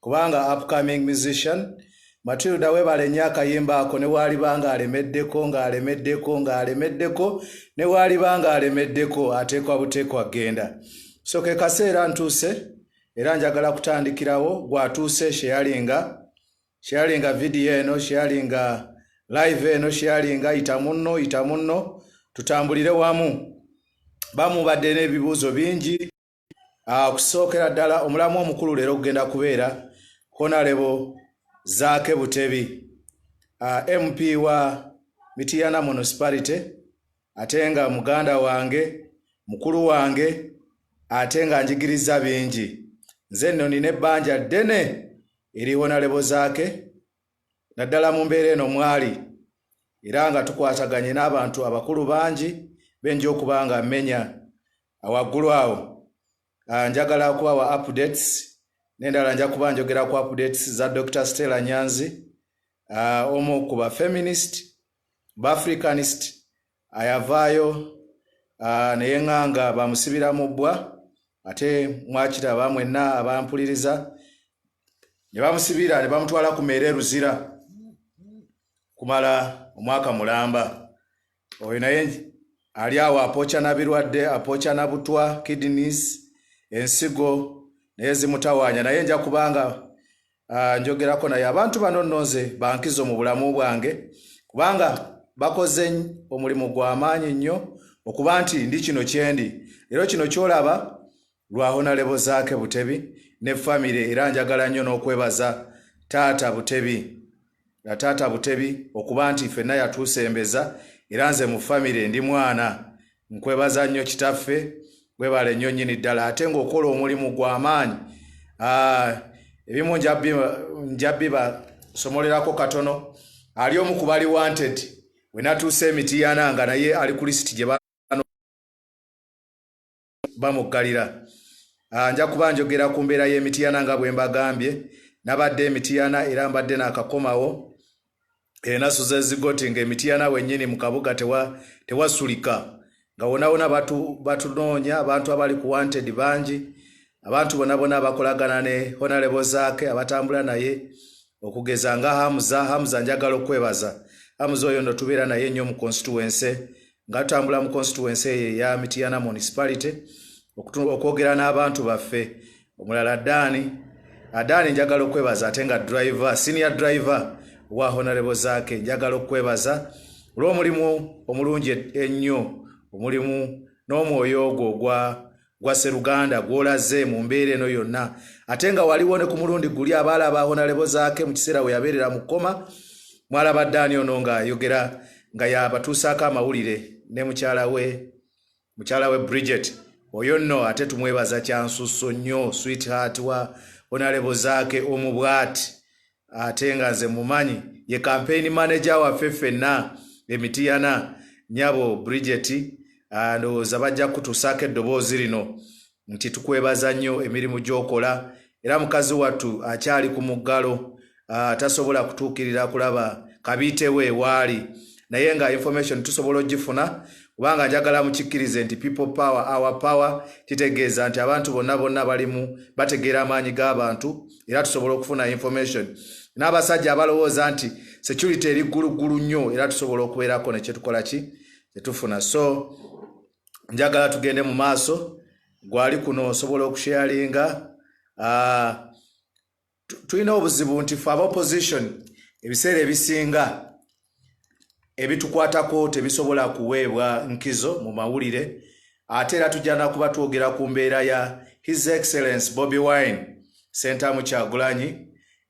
kubanga upcoming musician matilda webale nnyo akayimba ako newaaliba nga alemeddeko nga alemeddeko nga alemeddeko newaaliba nga alemeddeko ateekwa buteekwa kgenda so ke kaseera ntuuse era njagala kutandikirawo gwatuuse sheyalinga sheyalinga vidiyo eno sheyalinga live eno sheyalinga yita munno yita munno tutambulire wamu bamubadde n'ebibuuzo bingi Ah, okusookera ddala omulamu omukulu leero okugenda kubeera honalebo zaake butebi ah, mp wa mitiyana municipality ate nga muganda wange mukulu wange ate nga njigiriza bingi nze nno nina ebbanja ddene eri honalebo zaake naddala mu mbeera eno mwali era nga tukwataganye n'abantu abakulu bangi benja okuba nga mmenya awaggulu awo ah, njagala okubawa updates nendala nja kuba njogera ku updates za dr stella nyanzi ah, omu ku ba feminist ba africanist ayavaayo uh, neyeŋŋanga bamusibira mu bbwa ate mwakiraba mwenna abampuliriza ne bamusibira ne bamutwala ku meere eruzira kumala omwaka mulamba oyo naye ali awo apooca na birwadde apooca na butwa kidneys ensigo naye zimutawaanya naye nja kubanga Ah, njogerako naye abantu bano nno nze bankizo mu bulamu bwange kubanga bakoze omulimu gw'amaanyi nnyo okuba nti ndi kino kyendi leero kino kyolaba lwahonalebo zaake butebi ne famire era njagala nnyo n'okwebaza taata butebi nga taata butebi okuba nti fenna yatuusembeza era nze mu famire ndi mwana nkwebaza nnyo kitaffe webale nnyo nnyini ddala ate ng'okola omulimu gwa maanyi ah, ebimu njabiba somolerako katono ali omu ku bali wanted wenatuuse emitiyana nga naye ali ku lisiti gye bamuggalira ah, nja kuba njogera ku mbeera y'emitiyana nga bwe mbagambye nabadde emitiyana era mbadde naakakomawo enasu zezigoti ng'emitiyana wennyini mu kabuga tewasulika tewa nga wonawona batunoonya abantu abali ku wanted bangi abantu bonabona abakolagana ne honalebo zaake abatambula naye okugeza nga hamuza hamuza njagala okwebaza hamuza oyo no tubeera naye nnyo mu constituense Ngatambula mu constituency eye ya Mityana municipality okwogera n'abantu baffe omulala Daani Adaani njagala okwebaza ate nga driver senior driver wa honorable Zake njagala okwebaza olw'omulimu omulungi ennyo omulimu n'omwoyo ogwo ogwa Gwa Sseruganda gw'olaze mu mbeera eno yonna ate nga waliwo ne ku mulundi guli abaala aba Honalebo Zaake mu kiseera we yabeerera mu kkoma mwalabadde ani ono ng'ayogera nga yabatuusaako amawulire ne mukyala we mukyala we Bridget oyo nno ate tumwebaza kyansusso nnyo sweetheart wa Honalebo Zaake omu bwati Ate nga nze mumanyi ye campaign manager waffe ffenna emitiyana nyabo Bridget ndowooza bajja kutusaako eddoboozi lino nti tukwebaza nnyo emirimu gyokola era mukazi wattu akyali ku muggalo tasobola kutuukirira kulaba kabiite we waali naye nga information tusobola ogifuna kubanga njagala mukikkirize nti people power our power kitegeeza nti abantu bonna bonna balimu bategeera amaanyi g'abantu era tusobola okufuna information n'abasajja abalowooza nti security eri gguluggulu nnyo era tusobola okubeerako nekyetukola ki kyetufuna so njagala tugende mu maaso gwali kuno osobola okusheyalinga uh, tulina obuzibu nti fe aba opposition ebiseera ebisinga ebitukwatako tebisobola kuweebwa nkizo mu mawulire ate era tujjana kuba twogera ku mbeera ya his excellence bobi wine sentamu kyagulanyi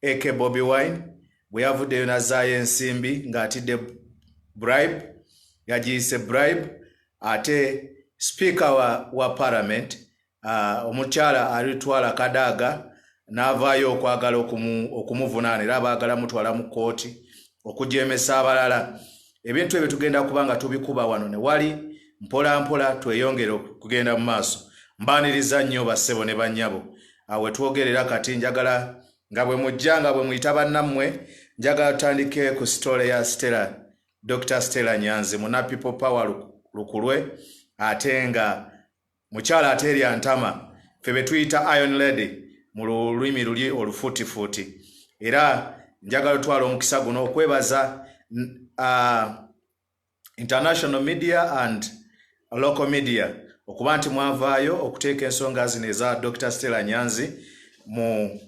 ak bobi wine bwe yavuddeyo nazaayo ensimbi ng'atidde bribe yagiyise bribe ate sipiika wa, wa parliament Ah, omukyala alitwala kadaaga n'avaayo okwagala okumuvunaana era abaagala mutwala mu kkooti okujeemesa abalala ebintu ebyo tugenda kuba nga tubikuba wano ne wali mpolampola tweyongere okugenda mu maaso mbaaniriza nnyo bassebo ne bannyabo awe ah, twogerera kati njagala nga bwe mujja nga bwe muyita bannammwe njagala tutandike ku sitole ya stella dr stella nyanzi muna people power lukulwe ate nga Mukyala ateerya ntama ffe be tuyita Iron Lady mu lulimi luli olufuutifuuti. Era njagala otwala omukisa guno okwebaza uh, international media and local media okuba nti mwavaayo okuteeka ensonga zino eza Dr. Stella Nyanzi mu,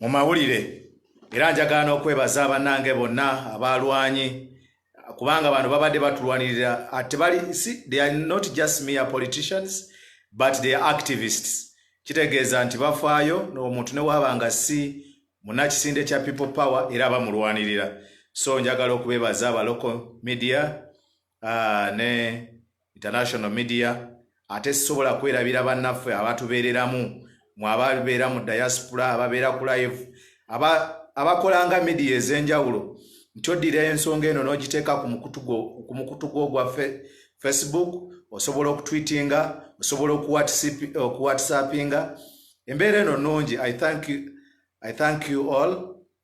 mu mawulire era njagala n'okwebaza bannange bonna abalwanyi kubanga bano babadde batulwanirira ah, tebali si they are not just mere politicians but they are activists kitegeeza nti bafaayo omuntu newaaba nga si munakisinde kya people power era bamulwanirira so njagala okubebaza aba local media uh, ne International Media ate sisobola kwerabira bannaffe abatubeereramu mu ababeera mu diaspora ababeera ku live abakolanga midiya ez'enjawulo nti oddira ensonga eno n'ogiteeka ku mukutu gwo ogwa facebook osobola okutwitinga osobola okuwhatsappinga embeera eno nnungi i thank you all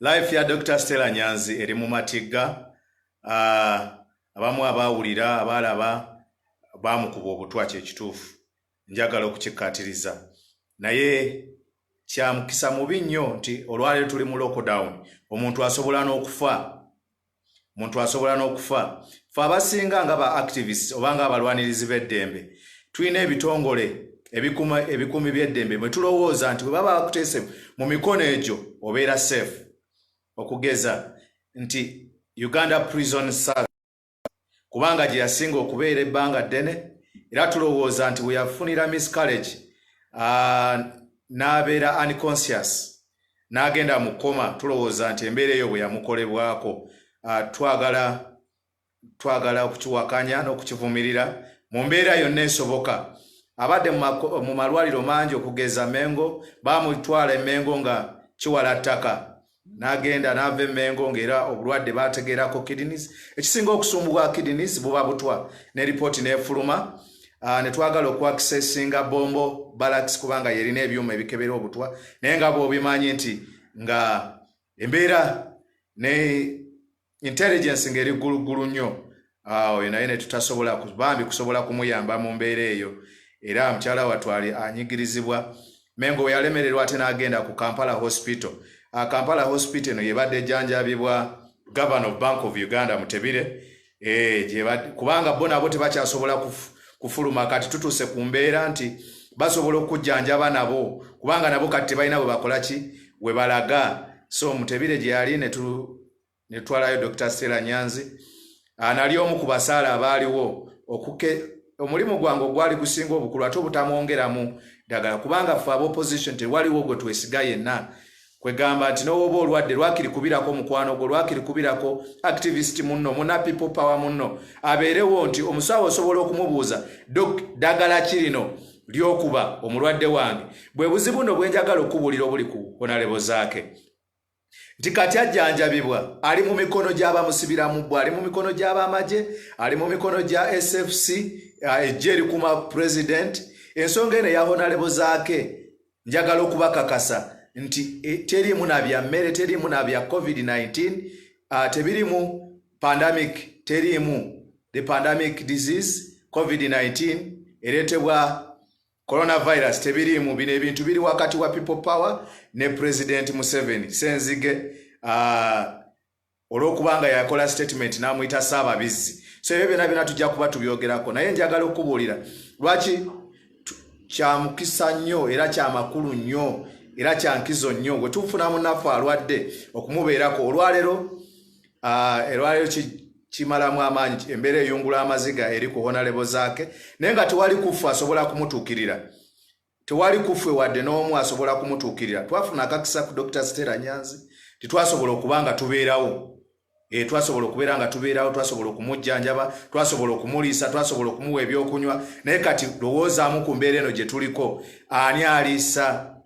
life ya dr stella nyanzi eri mu matigga ah, abamu abaawulira abaalaba baamukuba obutwa kyekituufu njagala okukikkaatiriza naye kyamukisa mubi nnyo nti olwaleero tuli mu lockdown omuntu asobola n'okufa muntu asobola n'okufa fe abasinga nga ba activists oba nga abalwanirizi b'eddembe tulina ebitongole ebikuma ebikuumi by'eddembe mwe tulowooza nti bwe baba bakuteese mu mikono egyo obeera safe okugeza nti uganda prison service kubanga gye yasinga okubeera ebbanga ddene era tulowooza nti bwe yafunira miss college n'abeera unconscious n'agenda mu koma tulowooza nti embeera eyo bwe yamukolebwako ah, twagala twagala okukiwakanya n'okukivumirira mu mbeera yonna esoboka abadde mu malwaliro mangi okugeza mengo baamutwala emengo nga kiwala ttaka n'agenda n'ava emengo ng'era obulwadde baategeerako kidneys ekisinga okusumbubwa kidneys buba butwa ne lipooti n'efuluma ne Ah, netwagala okuakisesinga bombo balax kubanga yerina ebyuma ebikebera obutwa naye nga bwobimanyi nti nga embeera ne intelligence ngaeri gguluggulu nnyo ah, oyo naye netutasobola bambi kusobola kumuyamba mu mbeera eyo era mukyala watwali anyigirizibwa mengo weyalemererwa ate nagenda ku kampala hospital ah, kampala hospital eno yebadde ejanjabibwa governor of bank of uganda mutebire Eh, gyebadde kubanga bo nabo tebakyasobola kuf- kufuluma kati tutuuse ku mbeera nti basobola okujjanjaba nabo kubanga nabo kati tebalina bwe bakola ki we balaga so mutebire gye yali ne tu- ne tutwalayo dr stella nyanzi Ah, nali omu ku basaala abaaliwo okuke omulimu gwange ogwali gusinga obukulu ate obutamwongeramu ddagala kubanga ffe aba opposition tewaliwo gwe twesiga yenna kwegamba nti nowoba olwadde lwakiri kubirako mukwano gwo lwakiri kubirako activist munno muna people power munno abeerewo nti omusawo osobola okumubuuza dok dagala kirino lyokuba omulwadde wange bwe buzibu no bwenjagala okubuulira obuli ku onalebo zaake nti kati ajjanjabibwa ali mu mikono gy'abamusibiramu bwe ali mu mikono gy'abamagye ali mu mikono gya sfc ejja eh, erikuma president ensonga eno ya onalebo zaake njagala okubakakasa nti e, teriimu na bya mmere teriimu na bya covid-19 uh, tebirimu pandemic teriimu the pandemic disease covid-19 ereetebwa coronavirus tebiriimu bino ebintu biri wakati wa people power ne president museveni senzige uh, olwokuba nga yakola statement n'amuyita ssaababizzi so ebyo byona byona tujja kuba tubyogerako naye njagala okukubuulira lwaki kyamukisa nnyo era kyamakulu nnyo era kyankizo nnyo bwe tufuna munaffe alwadde okumubeerako olwaleero olwaleero kimalamu amaanyi embeera eyungula amaziga eri ku honalebo zaake naye nga tewali kuffe asobola kumutuukirira Tewali kuffe wadde n'omu asobola kumutuukirira. Twafuna akakisa ku Dokita Stella Nyanzi nti twasobola okuba nga tubeerawo. E, twasobola okubeera nga tubeerawo, twasobola okumujjanjaba, twasobola okumuliisa, twasobola okumuwa ebyokunywa. Naye kati lowoozaamu ku mbeera eno gye tuliko, ani aliisa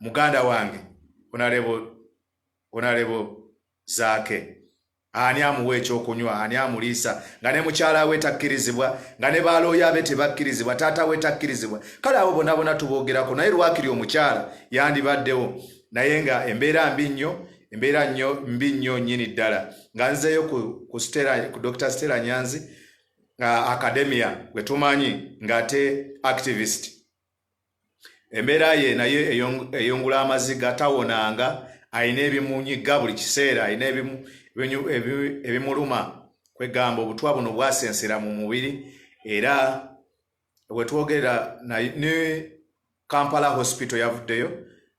muganda wange onalebo onalebo zaake? Ani amuwa ekyokunywa? Ani amuliisa? Nga ne mukyala we takkirizibwa, nga ne baalooya be tebakkirizibwa, taata we takkirizibwa. Kale abo bonaabona tuboogerako, naye lwakiri omukyala yandibaddewo. Naye nga embeera mbi nnyo, embeera nnyo mbi nnyo nnyini ddala. Nga nzeeyo ku, ku, Stella, ku Dr. Stella Nyanzi, uh, academia gwe tumanyi ng'ate activist. embeera ye naye eyungula amaziga tawonanga alina ebimunyiga buli kiseera alina ebimuluma kwegamba obutwa buno bwasensera mu mubiri era wetwogerera ne kampala hospital yavuddeyo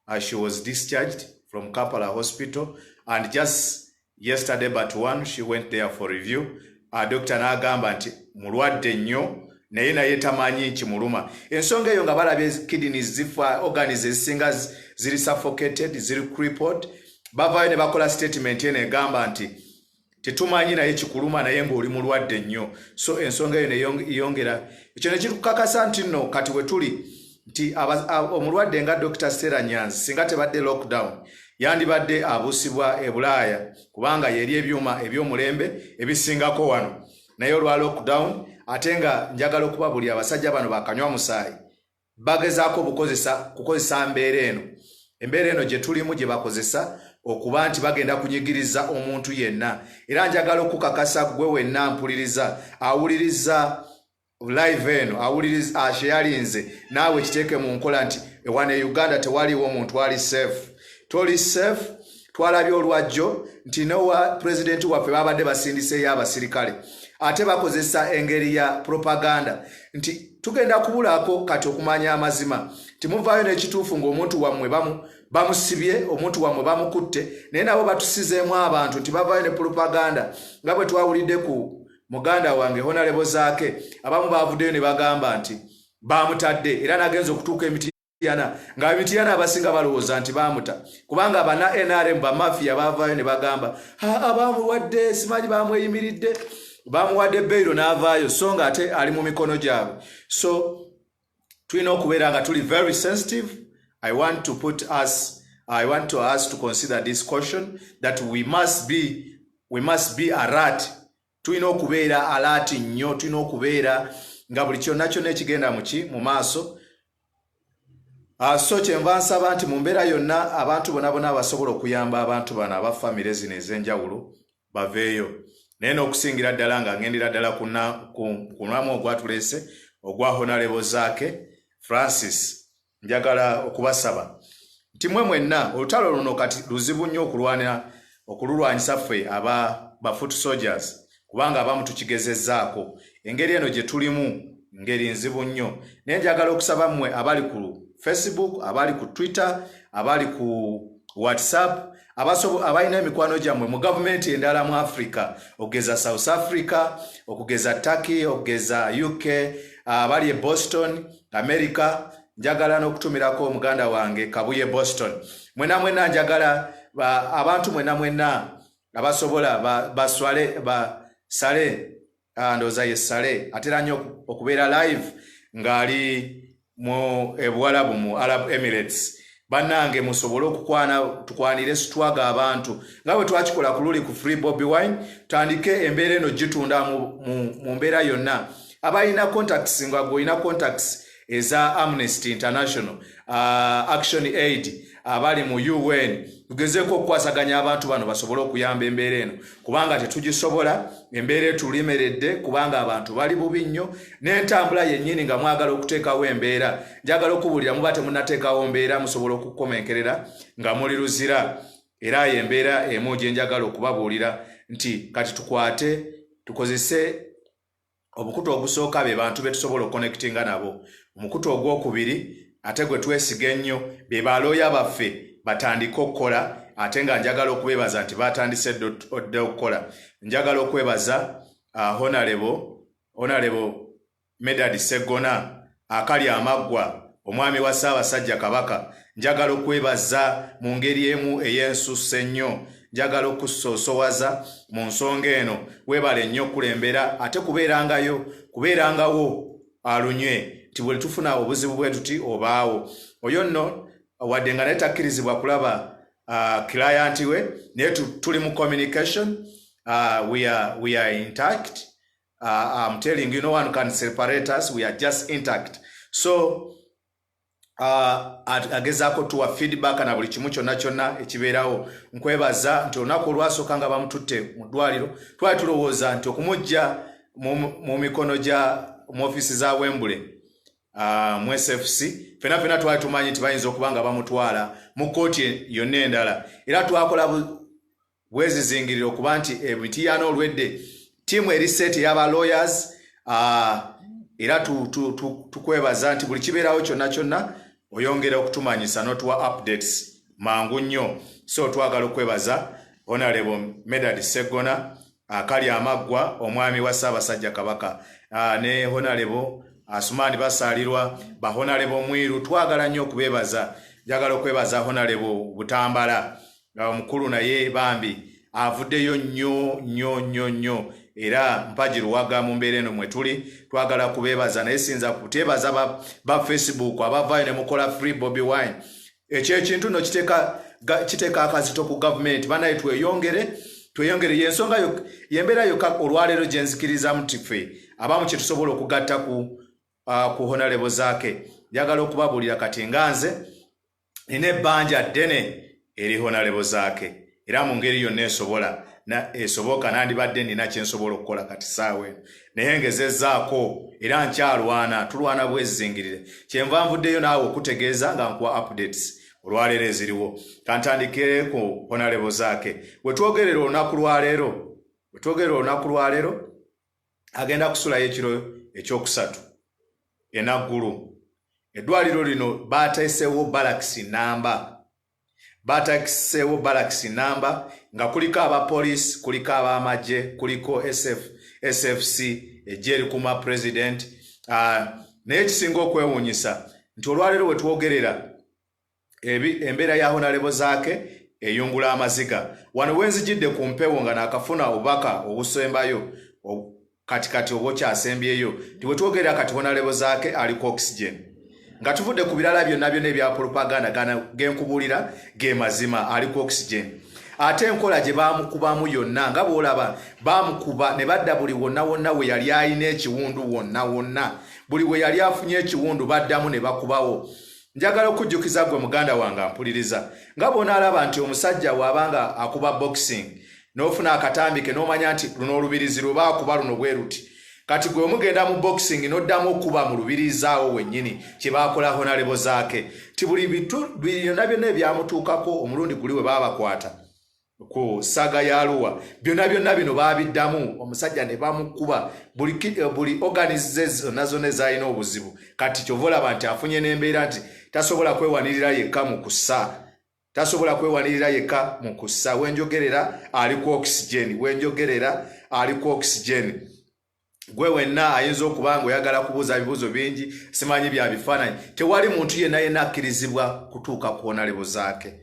uh, she was discharged from kampala hospital and just Yesterday but one she went there for review. Uh, doctor n'agamba nti mulwadde nnyo naye naye tamanyi nkimuluma. Ensonga eyo nga balabye kidneys zifa, organs ezisinga ziri suffocated, ziri crippled. Bavaayo ne bakola statement eno egamba nti tetumanyi naye kikuluma naye ng'oli mulwadde nnyo. So ensonga eyo neyongera. Ekyo ne kikukakasa nti nno kati we tuli. nti omulwadde nga dr stera nyanzi singa tebadde lockdown yandibadde abusibwa e bulaaya kubanga yeri ebyuma ebyomulembe ebisingako wano naye olwa lockdown ate nga njagala okuba buli abasajja bano bakanywa musaayi bagezaako bukozesa kukozesa mbeera eno embeera eno gye tulimu gye bakozesa okuba nti bagenda kunyigiriza omuntu yenna era njagala okukakasa gwe wenna mpuliriza awuliriza live eno awuliriza ah, sheyalinze naawe kiteeke mu nkola nti ewana e uganda tewaliwo omuntu ali safe toli safe twalabye olwajjo nti nowa pulezidenti waffe babadde basindiseeyo abasirikale ate bakozesa engeri ya propaganda nti tugenda kubulaako kati okumanya amazima timuvaayo n'ekituufu ng'omuntu wammwe bamusibye omuntu wammwe bamukutte naye nabo batusizeemu abantu nti bavaayo ne propaganda nga bwe twawulidde ku muganda wange honalebo zaake abamu baavuddeyo ne bagamba nti baamutadde era nagenza okutuuka emitiyana nga emitiyana abasinga balowooza nti baamuta kubanga abana nrm bamafiya baavaayo ne bagamba abaamuwadde simanyi baamweyimiridde baamuwadde beyiro n'avaayo so nga ate ali mu mikono gyabwe so tulina okubeera nga tuli very sensitive i want to put us i want to us to consider this caution that we must be we must be alert tulina okubeera alert nnyo tulina okubeera nga buli kyonna kyonna ekigenda muki mu maaso Ah, so kyenva nsaba nti mu mbeera yonna abantu bona bona abasobola okuyamba abantu bano aba famire zino ez'enjawulo baveeyo naye n'okusingira ddala nga ngendera ddala kunamu ogwatuleese ogwa honalebo zaake francis njagala okubasaba nti mwe mwenna olutalo luno kati luzibu nnyo okulwanira okululwanyisa ffe aba bafoot soldiers kubanga abamu tukigezezaako engeri eno gye tulimu ngeri nzibu nnyo naye njagala okusaba mmwe abali ku facebook abali ku twitter abali ku whatsapp abalina emikwano gyammwe mu gavumenti endala mu africa okugeza south africa okugeza turkey okugeza uk abali e boston america njagala n'okutumirako omuganda wange kabuye boston mwena mwena njagala abantu mwena mwena abasobola baswale basale Ah, ndowooza ye sale atera nnyo okubeera live ng'ali mu ebuwalabu mu arab emirates bannange musobole okukwana tukwanire sitwaga abantu nga bwe twakikola ku luli ku free bobby wine tutandike embeera eno gitunda mu mbeera yonna abalina contacts nga gweolina contacts eza Amnesty International uh, Action Aid abali mu UN tugezeeko okukwasaganya abantu bano basobole okuyamba embeera eno kubanga tetugisobola embeera etulimeredde kubanga abantu bali bubi nnyo n'entambula yennyini nga mwagala okuteekawo embeera njagala okubuulira muba temunateekawo mbeera musobola okukomenkerera nga muli luzira era yo embeera emu gye njagala okubabuulira nti kati tukwate tukozese omukutu ogusooka be bantu be tusobola okukonekitinga nabo omukutu ogwokubiri ate gwe twesiga ennyo be balooya baffe batandike okukola ate nga njagala okubebaza nti batandise dda okukola njagala okwebaza uh, honalebo honalebo medad segona Akali amaggwa, Omwami wa Ssaabasajja Kabaka, njagala okwebaza mu ngeri emu ey'ensusso ennyo. Njagala okukusoosowaza mu nsonga eno. Weebale nnyo okukulembera ate kubeerangayo, kubeerangawo alunywe nti bwe tufuna obuzibu bwe tuti obaawo. Oyo nno wadde nga naye takkirizibwa kulaba uh, client we naye tuli mu communication uh, we are, we are intact Uh, I'm telling you, no one can separate us. We are just intact. So, uh, agezaako tuwa feedback na buli kimu kyonna kyonna ekibeerawo nkwebaza nti olunaku olwasooka nga bamututte mu ddwaliro twali tulowooza nti okumujja mu mikono gya mu ofiisi za wembule uh, mu sfc fena fena twali tumanyi nti bayinza okuba nga bamutwala mu kkooti yonna endala era twakola wezizingirira okuba nti emitiyaana eh, olwedde tiimu eri seeti eyaba lawyers ah, era tukwebaza nti buli kibeerawo kyonna kyonna oyongera okutumanyisa notuwa updates mangu nnyo so twagala okwebaza honarebo medard seggona akali amaggwa omwami wa ssaabasajja kabaka ah, ne honarebo asumaani ah, basaalirwa bahonarebo mwiru twagala nnyo okubeebaza njagala okwebaza honarebo butambala nga omukulu naye bambi avuddeyo nnyo nnyo nnyo nnyo era mpagi luwaga mu mbeera eno mwe tuli twagala kubeebaza naye siyinza kuteebaza ba facebook abavaayo ne mukola free bobi wine ekyo ekintu no kiteeka akazito ku gavumenti banaye tweyongere tweyongere yensonga yembeera yoka olwaleero gye nzikirizamu nti ffe abamu kye tusobola okugatta ku uh, honalebo zaake njagala okubabuulira kati nga nze nina ebbanja ddene eri honalebo zaake era mu ngeri yonna esobola esoboka nandibadde nina kyensobola okukola kati saawa eno naye ngezezaako era nkyalwana tulwana bwezingirire kyenva nvuddeyo naawe okutegeeza nga nkuwa updates olwaleero eziriwo kantandikire ku honalebo zaake wetwogerera olunaku lwaleero wetwogerera olunaku lwaleero agenda kusulayo ekiro ekyokusatu enaggulu eddwaliro lino baateesewo balakisi namba batakiseewo balakisi namba nga kuliko abapoliisi kuliko ab'amagye kuliko sf sfc ejja erikuuma pulezidenti ah, naye ekisinga okwewuunyisa nti olwaleero wetwogerera Embeera ya Honalebo Zaake eyungula amaziga. Wano wenzijidde ku mpewo nga nakafuna obubaka obusembayo kati kati obwokyasembyeyo nti wetwogerera kati Honalebo Zaake ali ku oxygen. Nga tuvudde ku birala byonna byonna ebya propaganda gana genkubulira ge mazima ali ku oxygen. Ate enkola gye baamukubamu yonna nga bwolaba baamukuba ne badda buli wonna wonna we yali alina ekiwundu wonna wonna buli we yali afunye ekiwundu baddamu ne bakubawo. Njagala okujjukiza gwe muganda wange ampuliriza nga bw'onaalaba nti omusajja waaba nga akuba boxing n'ofuna akatambi ke n'omanya nti luno olubirizi lwe baakuba luno bwe luti kati gwe omugenda mu boxing n'oddamu okuba mu lubirizaawo wennyini kye baakola honalebo zaake ti buli bitu byonna byonna ebyamutuukako omulundi guli we baabakwata ku saga ya luwa byonna byonna bino baabiddamu omusajja ne bamukuba buli, eh, buli organis ze zonna zonna ezalina obuzibu kati kyova olaba nti afunye n'embeera nti tasobola kwewanirira yekka mu kusa tasobola kwewanirira yekka mu kusa wenjogerera ali ku oxygen wenjogerera ali ku oxygen gwe wenna ayinza okuba nga oyagala kubuuza ebibuuzo bingi simanyi bya bifaananyi tewali muntu yenna yenna akkirizibwa kutuuka kwona lebo zaake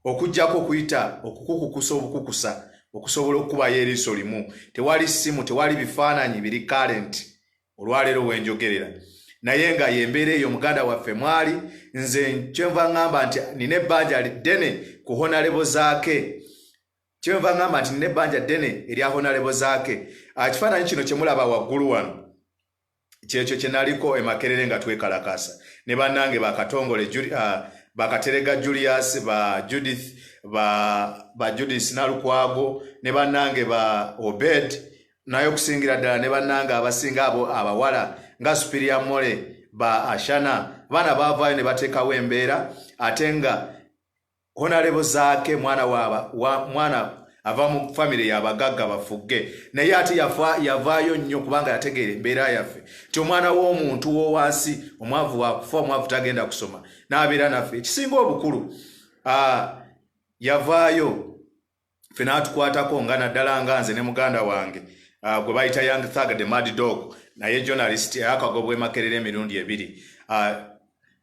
okugyako okuyita okukukukusa obukukusa okusobola okukubayo eriiso limu tewali ssimu tewali bifaananyi biri kalenti olwaleero wenjogerera naye nga yembeera eyo muganda waffe mwali nze kyenva ŋŋamba nti nina ebbanja liddene ku honalebo zaake Kyenva ngamba nti nina ebbanja ddene erya Honalebo Zaake. Ah, ekifaananyi kino kye mulaba waggulu wano kyekyo kye naliko e Makerere nga twekalakaasa ne bannange bakatongole ah, bakaterega Julius ba Judith ba, ba Judith Nalukwago ne bannange ba Obed naye okusingira ddala ne bannange abasinga abo abawala nga Superior Mole ba Ashana baana baavaayo ne bateekawo embeera ate nga honalebo zaake mwana waaba wa, mwana ava mu famire yabagagga bafugge naye ate yavaayo nnyo kubanga yategeera embeera yaffe nti omwana w'omuntu wowansi omwavu wakufa omwavu tagenda kusoma n'abeera naffe ekisinga obukulu yavaayo ffe n'atukwatako nga naddala nga nze ne muganda wange uh, gwe bayita young thug the mad dog naye journalist yakagobwa emakerera emirundi ebiri uh,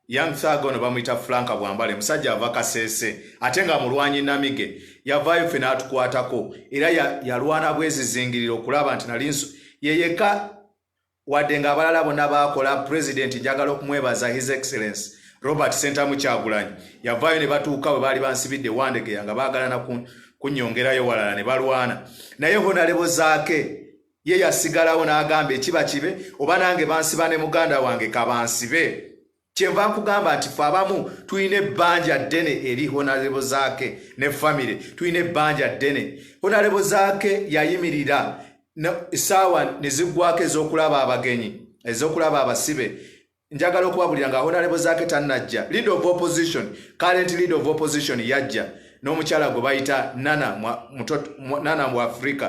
young thug ono bamuyita franka bwambale musajja ava kasese ate nga mulwanyi namige yavaayo ffe n'atukwatako era yalwana bwezizingirira okulaba nti nali yeyeka Wadde nga abalala bona baakola, Pulezidenti njagala okumwebaza His Excellence Robert Ssentamu Kyagulanyi yavaayo ne batuuka bwe baali bansibidde Wandegeya nga baagalana kunyongerayo walala ne balwana naye Honalebo Zaake ye yasigalawo n'agamba ekiba kibe oba nange bansiba ne muganda wange kabansibe. Kyenva nkugamba nti fe abamu tulina ebbanja ddene eri honarebo zaake ne famire tulina ebbanja ddene honarebo zaake yayimirira esaawa nezigwako ezokulaba abagenyi ezokulaba abasibe njagala okubabulira nga honarebo zaake tanajja lead of opposition current lead of opposition yajja n'omukyala gwe bayita nana nana mu afrika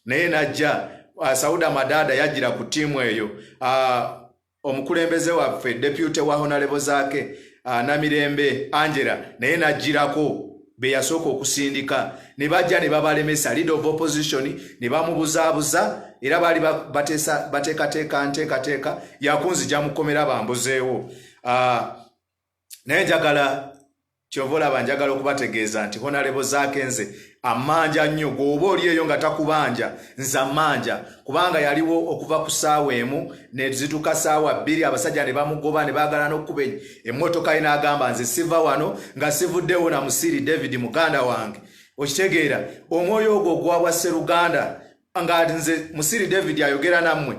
naye najja uh, sauda madada yajjira ku tiimu eyo uh, omukulembeze waffe depute wa honalebo zaake ah, namirembe angela naye najjirako beyasooka okusindika ne bajja ne babalemesa leader of opposition ne bamubuzaabuza era baali bateekateeka nteekateeka yakunzija mukomera bambuzeewo ah, naye njagala kyova olaba njagala okubategeeza nti honalebo zaake nze amanja nnyo gweoba oli eyo nga takubanja nze amanja kubanga yaliwo okuva ku saawa emu nezituka saawa bbiri abasajja ne bamugoba ne baagala n'okukuba emmotoka ye n'agamba nze siva wano nga sivuddewo na musiiri david muganda wange okitegeera omwoyo ogwo ogwabwa sseruganda nga nze musiri david ayogera nammwe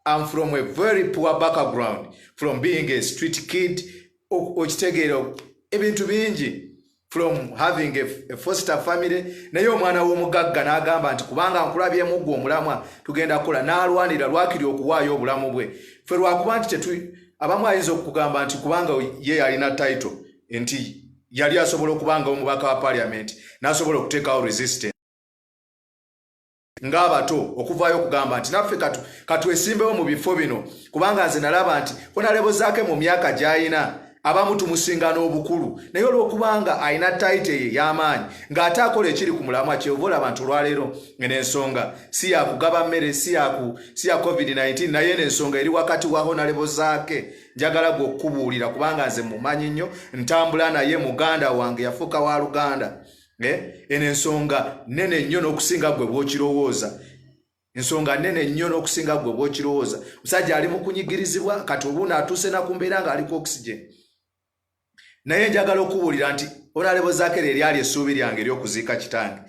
am from a very poor background from being a street kid okitegeera ebintu bingi from having a foster family naye omwana w'omugagga n'agamba nti kubanga nkulabyemu gwe omulamwa tugenda kukola n'alwanira lwakiri okuwaayo obulamu bwe fe lwakuba nti tetu abamu ayinza okugamba nti kubanga ye yalina title nti yali asobola okubanga omubaka wa parliament n'asobola okuteekawo resistance ng'abato okuvaayo okugamba nti naffe katwesimbewo mu bifo bino kubanga nze nalaba nti honalebozaake mu myaka gy'alina abamu tumusinga n'obukulu naye olw'okubanga alina tayite ye y'amaanyi ng'ate akola ekiri ku mulamwa kyova olaba nti olwaleero n'ensonga si yakugaba mmere si ya covid-19 naye n'ensonga eri wakati wa honalebozaake njagala gwe okukubuulira kubanga nze mumanyi nnyo ntambula naye muganda wange yafuuka wa luganda Eh, eno ensonga nene nnyo n'okusinga gwe bw'okirowooza ensonga nene nnyo n'okusinga gwe bw'okirowooza musajja ali mu kunyigirizibwa kati obuuno atuuse na ku mbeera ng'aliko oxygen naye njagala okubuulira nti onalebo zakere eryali essuubi lyange ery'okuziika kitange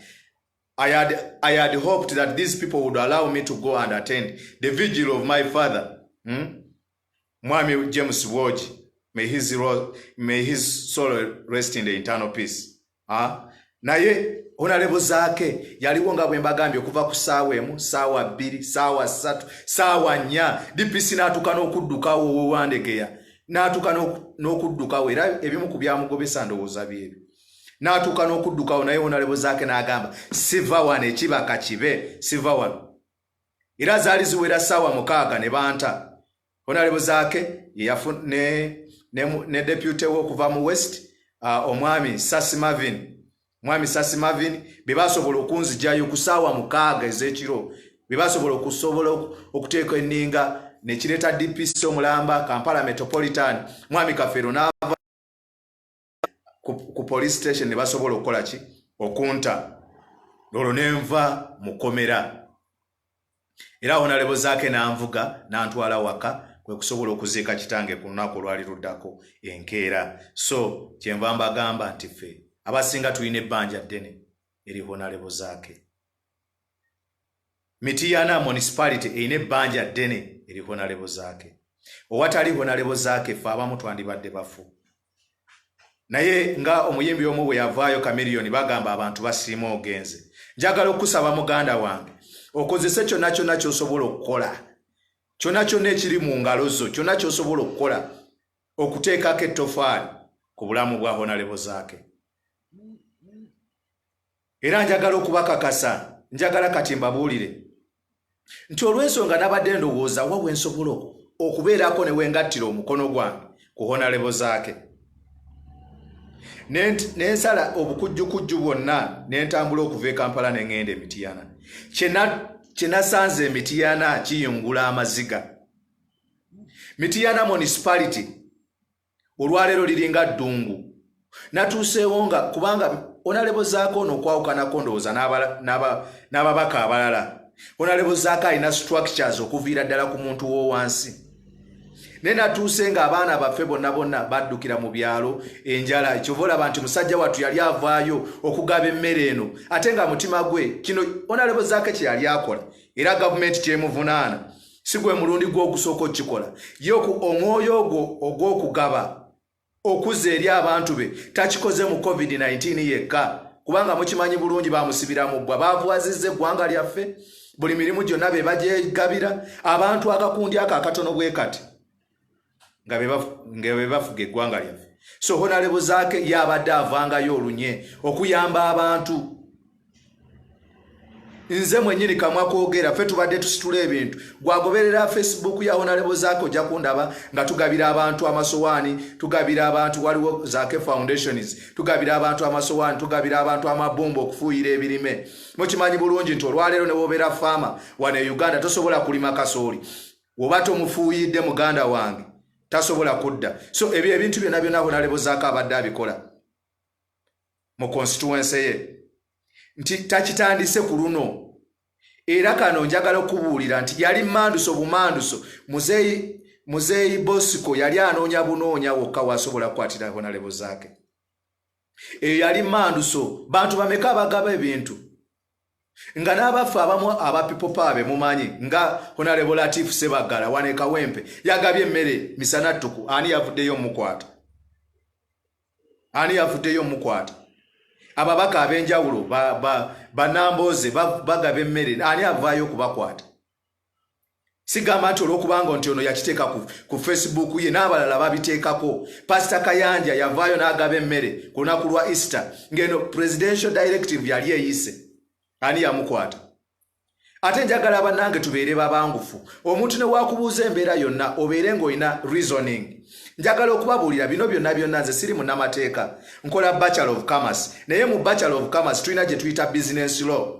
I had, I had hoped that these people would allow me to go and attend the vigil of my father hmm? Mwami James Bwogi, may his, may his soul rest in the internal peace. Ha? Naye honalebo zaake yaliwo nga bwembagambye okuva ku saawa emu saawa bbiri saawa ssatu saawa nnya dpc n'atuuka n'okuddukawo owewandegeya n'atuuka n'okuddukawo era ebimu ku byamugobesa ndowooza byebyo n'atuuka n'okuddukawo naye honalebo zaake n'agamba siva wano ekibaka kibe siva wano era zaali ziwera ssaawa mukaaga ne banta honalebo zaake ne, ne, ne depute we okuva mu west uh, omwami sasi marvin mwami sasi marvin be basobola okunzijayo ku ssaawa mukaaga ez'ekiro be basobola okusobola okuteeka enninga nekireeta dpc omulamba kampala metropolitan mwami kafeero n'ava ku police station ne basobola okukola ki okunta olwo ne nva mukomera era wonalebo zaake n'anvuga n'antwala waka kwe kusobola okuziika kitange ku lunaku olwali luddako enkeera so kyenva mbagamba nti ffe abasinga tulina ebbanja ddene eri honalebo zaake Mityana municipality erina ebbanja ddene eri honalebo zaake. Owatali honalebo zaake ffe abamu twandibadde bafu. Naye nga omuyimbi omu bwe yavaayo kamiriyoni bagamba abantu basiima ogenze. Njagala okusaba muganda wange okozese kyonna kyonna kyosobola okukola kyonna kyonna ekiri mu ngalo zo kyonna kyosobola okukola okuteekako ettofaali ku bulamu bwa honalebo zaake. Era njagala okubakakasa, njagala kati mbabuulire nti olw'ensonga nabadde ndowooza wa we nsobola okubeerako ne wengattira omukono gwange ku honalebo zaake ne nsala obukujjukujju bwonna ne ntambula okuva e kampala ne ŋŋenda emitiyana kye nasanze emitiyana kiyungula amaziga mitiyana municipality olwaleero liringa ddungu natuuseewo nga kubanga onalebo zaako ono okwawukanako ndowooza n'ababaka abalala onalebo zaako alina structures okuviira ddala ku muntu w'owansi naye natuuse nga abaana baffe bonna bonna baddukira mu byalo enjala ekyova olaba nti musajja wattu yali avaayo okugaba emmere eno ate nga mutima gwe kino onalebo zaako kye yali akola era gavumenti kyemuvunaana si gwe mulundi gwo ogusooka okukikola ye omwoyo ogwo ogw'okugaba okuzza eri abantu be takikoze mu covid-19 yekka kubanga mukimanyi bulungi bamusibiramu bbwa baavuwazizza eggwanga lyaffe buli mirimu gyonna be bagyegabira abantu akakundi ako akatono bwe kati nga be bafu- nga be bafuga eggwanga lyaffe so honalebo zaake ye abadde avangayo olunye okuyamba abantu nze mwenyini kamwa kogera ffe tubadde tusitula ebintu gwagoberera facebook ya honalebo zaake ojja kundaba nga tugabira abantu amasowaani tugabira abantu waliwo zaake foundations tugabira abantu amasowaani tugabira abantu amabumba okufuuyira ebirime mukimanyi bulungi nti olwaleero newobeera faama wano e uganda tosobola kulima kasooli woba tomufuuyidde muganda wange tasobola kudda so ebyo ebintu byona byona honalebozaako abadde abikola mu constituense ye nti takitandise ku luno era kano njagala okubuulira nti yali manduso bumanduso muzeeyi muzeeyi bosiko yali anoonya bunoonya wokka wasobola kukwatira honalebozaake eyo yali manduso bantu bameka abagaba ebintu nga n'abaffe abamu aba people power be mumanyi nga honorable latif sebagala wane kawempe yagabye emmere misana ttuku ani yavuddeyo omukwata ani yavuddeyo omukwata ababaka ab'enjawulo banambooze ba, ba, bagaba emmere ani avaayo okubakwata sigamba nti olwokubanga nti ono yakiteeka ku, ku facebook ye n'abalala babiteekako pasita kayanja yavaayo n'agaba emmere ku lunaku lwa easter ng'eno presidential directive yali eyise ani yamukwata ate njagala banange tubeere babangufu omuntu newakubuuza embeera yonna obeere ng'olina reasoning njagala okubabuulira bino byonna byonna nze siri munamateeka nkola bachelor of commerce naye mu bachelor of commerce tulina gye tuyita business law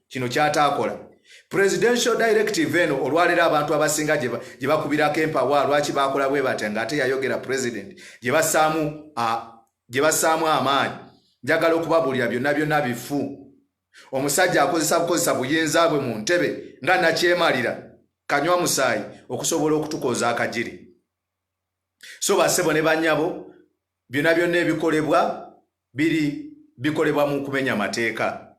kino kyataakola presidential directive eno olwaleero abantu abasinga gye bakubirako empawa lwaki baakola bwe batya ng'ate yayogera president gye basaamu amaanyi njagala okubabuulira byonna byonna bifu omusajja akozesa bukozesa buyinza bwe mu ntebe nga nakyemalira kanywa musaayi okusobola okutukoza akagiri so basebo ne banyabo byonna byonna ebikolebwa biri bikolebwa mu kumenya mateeka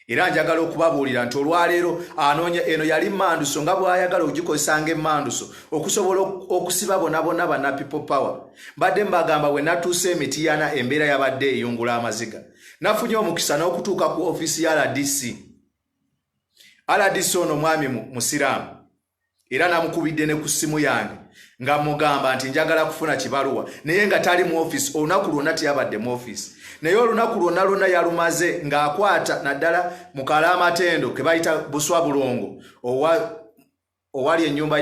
era njagala okubabuulira nti olwaleero anoonya eno yali manduso nga bw'ayagala okugikozesa nga emanduso okusobola okusiba bonabona bana people power mbadde mbagamba we natuusa emitiyana embeera yabadde eyungula amaziga nafunye omukisa n'okutuuka ku ofiisi ya rdc rdc ono mwami musiraamu era namukubidde ne ku ssimu yange nga mugamba nti njagala kufuna kibaluwa naye nga tali mu office olunaku lwonna teyabadde mu office naye olunaku lwonna lwonna yalumaze ng'akwata naddala mu kalaamatendo ke bayita buswa bulongo owali ennyumba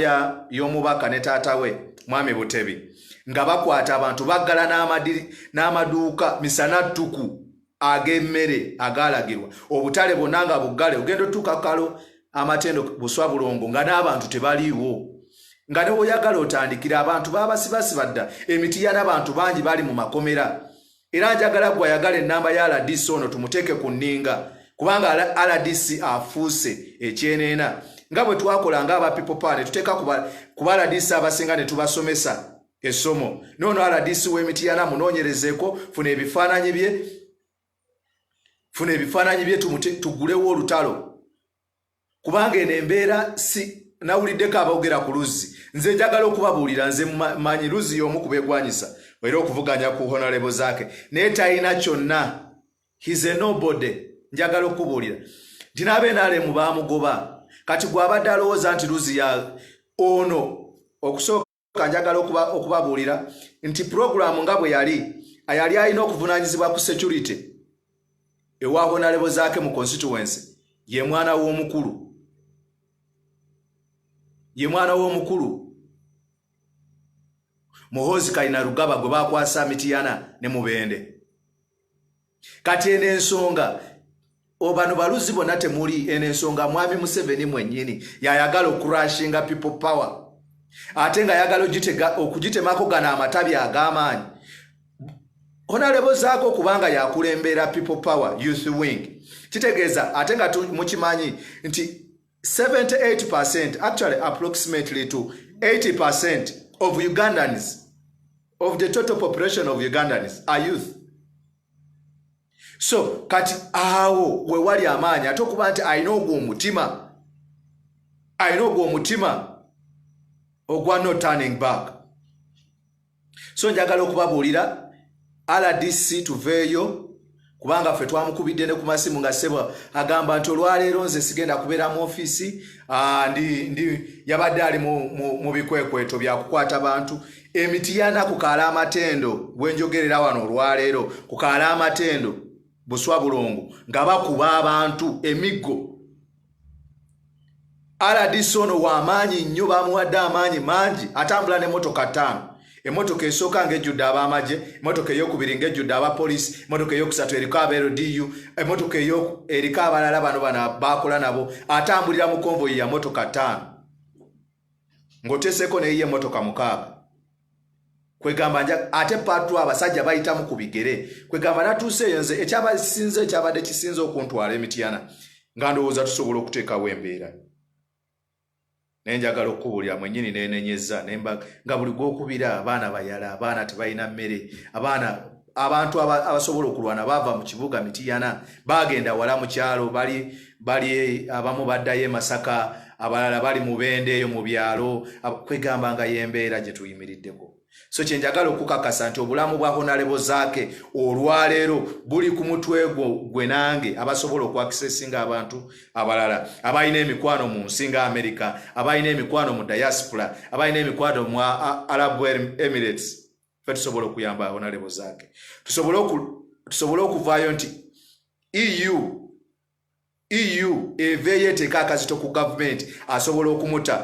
y'omubaka ne taata we mwami butebi nga bakwata abantu baggala n'amaduuka misana ttuku ag'emmere agaalagirwa obutale bonna nga buggale ogenda otuuka kukalo amatendo buswa bulongo nga n'abantu tebaliiwo nga ne woyagala otandikira abantu baabasibasiba dda emitiya n'abantu bangi bali mu makomera era njagala gwe ayagala ennamba ya rdc ono tumuteeke ku nninga kubanga rdc afuuse ekyeneena nga bwe twakola nga aba people power ne tuteeka kuba rdc abasinga ne tubasomesa Essomo noono RDC w'Emityana munoonyerezeeko, funa ebifaananyi bye, funa ebifaananyi bye tumute tugulewo olutalo kubanga eno embeera si nawuliddeko aboogera ku luzzi nze njagala okubabuulira nze manyi luzzi y'omu kubegwanyisa era okuvuganya ku honalebo zaake naye talina kyonna his a nobody njagala okukubuulira nti n'abenaalemu baamugoba kati gw'abadde alowooza nti luzzi ya ono okusooka kanjagala okubabuulira nti pulogulaamu nga bwe yali ayali alina okuvunaanyizibwa ku security ewa honalebo zaake mu constituency ye mwana w'omukulu ye mwana w'omukulu muhoozi kalina rugaba gwe bakwasa mitiyana ne mubende kati eno ensonga obano baluzi bona temuli eno ensonga mwami museveni mwenyini yayagala okurashinga people power ate nga yagala okugitemako gano amatabi ag'amaanyi honalebo zaako kubanga yakulembeera people power youth wing kitegeeza ate nga mukimanyi nti 78% actually approximately to 80% of Ugandans, of the total population of Ugandans are youth. So, kati awo we wali amaanyi ate okuba nti alina ogwo omutima alina ogwo omutima ogwa no turning back so njagala okubabuulira rdc tuveeyo kubanga ffe twamukubidde ne ku masimu nga sebo agamba nti olwaleero nze sigenda kubeera mu ofiisi ah, ndi yabadde ali mu bikwekweto byakukwata bantu emiti yana ku kaala amatendo bwenjogerera wano olwaleero ku kaala amatendo buswa bulongo nga bakuba abantu emiggo rdc ono wamaanyi nnyo bamuwadde amaanyi mangi atambula nemotoka ttaano emotoka esooka ngaejjudde abamagye emotoka eyokubiri ngaejjudde abapoliisi emotoka eyokusatu eriko aba ldu emotoka eriko abalala bano bana bakola nabo atambulira mu konvoyi ya motoka ttaano ng'oteseeko neyiye emotoka mukaaga kwegamba ate patu abasajja bayitamu ku bigere kwegamba natuuse eyo nze ekyabasinze ekyabadde kisinze okuntwala emityana nga ndowooza tusobola okuteekawo embeera naye njagala okukubuulira mwenyini nenenyeza nga buli gwokubira abaana bayala abaana tebalina mmere abaana abantu abasobola okulwana baava mu kibuga mitiyana bagenda wala mu kyalo bali bali abamu baddayo emasaka abalala bali mu bende eyo mu byalo kwegamba nga yembeera gye tuyimiriddeko so kyenjagala okukakasa nti obulamu bwa honalebo zaake olwaleero buli ku mutwe gwo gwe nange abasobola okwakisesinga abantu abalala abalina emikwano mu nsi nga amerika abalina emikwano mu diaspora abalina emikwano mu arabu emirates fe tusobola okuyamba honalebo zake tusobole okuvaayo nti eu eu eveeyo eteeka akazito ku gavumenti asobola okumuta